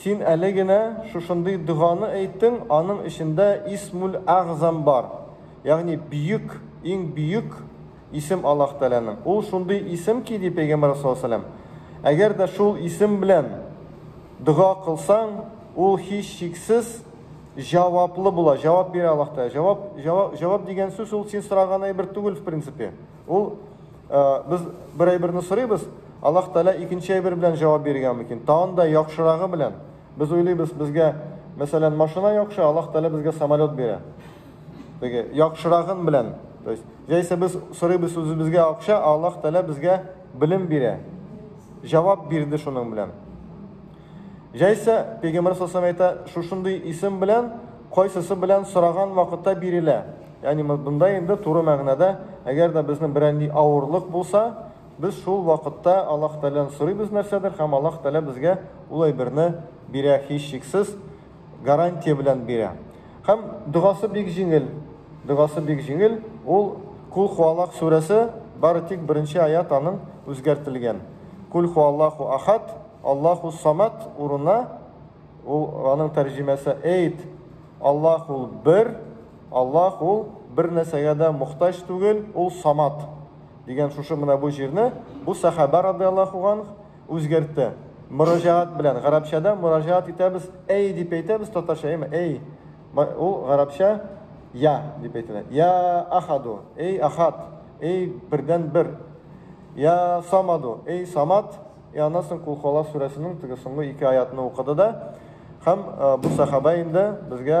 Син әле генә шушындый доганы әйттең, аның эчендә Исмул-Әгъзам бар, ягъни Бөек, иң бөек исем Аллаһ Тәгаләнең. Ул шундый исем ки, ди Пәйгамбәребез саллаллаһу галәйһи ва сәлләм, әгәр дә шул исем белән дога кылсаң, ул һичшиксез җаваплы була, җавап бирә Аллаһ Тәгалә. Җавап, җавап, җавап дигән сүз ул син сораган әйбер түгел, в принципе. Ул без бер әйберне сорыйбыз, Аллаһ Тәгалә икенче әйбер белән җавап биргән мөмкин. Тагын да яхшырагы белән. Без уйлыйбыз, безгә, мәсәлән, машина яхшы, Аллаһ Тәгалә безгә самолет бирә. Теге яхшырагын белән. То есть, җәйсә без сорыйбыз үзебезгә акча, а Аллаһ Тәгалә безгә белем бирә. Җавап бирде шуның белән. Җәйсә, Пәйгамбер саллаллаху әйтә, шушындый исем белән, кайсысы белән сораган вакытта бирелә. Ягъни монда инде туры мәгънәдә, әгәр дә безнең берәнди авырлык булса, без шул вакытта Аллаһ Тәгаләдән сорыйбыз нәрсәдер һәм Аллаһ Тәгалә безгә ул әйберне бирә, һичшиксез гарантия белән бирә. Һәм догасы бик җиңел, догасы бик җиңел, ул Кул хуалак сүрәсе, бары тик беренче аят аның үзгәртелгән. Кул хуаллаху ахад, Аллаху самат урынына ул аның тәрҗемәсе әйт, Аллаһ ул бер, Аллаһ ул бер нәрсәгә дә мохтаҗ түгел, ул Самад, дигән шушы менә бу җирне бу сәхабә радыяллаһу анһ үзгәртте. Мөрәҗәгать белән, гарәпчәдә мөрәҗәгать итәбез, әй дип әйтәбез, татарча әйме, әй, ул гарәпчә я дип әйтелә. Я ахаду, әй ахад, әй бердән бер. Я самаду, әй самад, и аннан соң кул хуала сүрәсенең теге соңгы ике аятны укыды да, һәм бу сәхабә инде безгә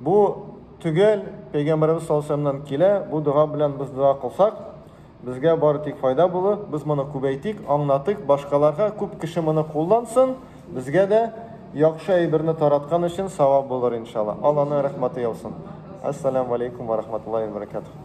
Бу төгәл пәйгамбәребез саллаллаһу галәйһи ва сәлләмнән килә, бу дога белән без дога кылсак, безгә бары тик файда булыр, без моны күбәйтик, аңнатыйк, башкаларга, күп кеше моны куллансын, безгә дә яхшы әйберне тараткан өчен савап булыр, иншалла. Алланың рәхмәте яусын. Әссәләмү галәйкүм ва рахматуллаһи ва баракатуһ.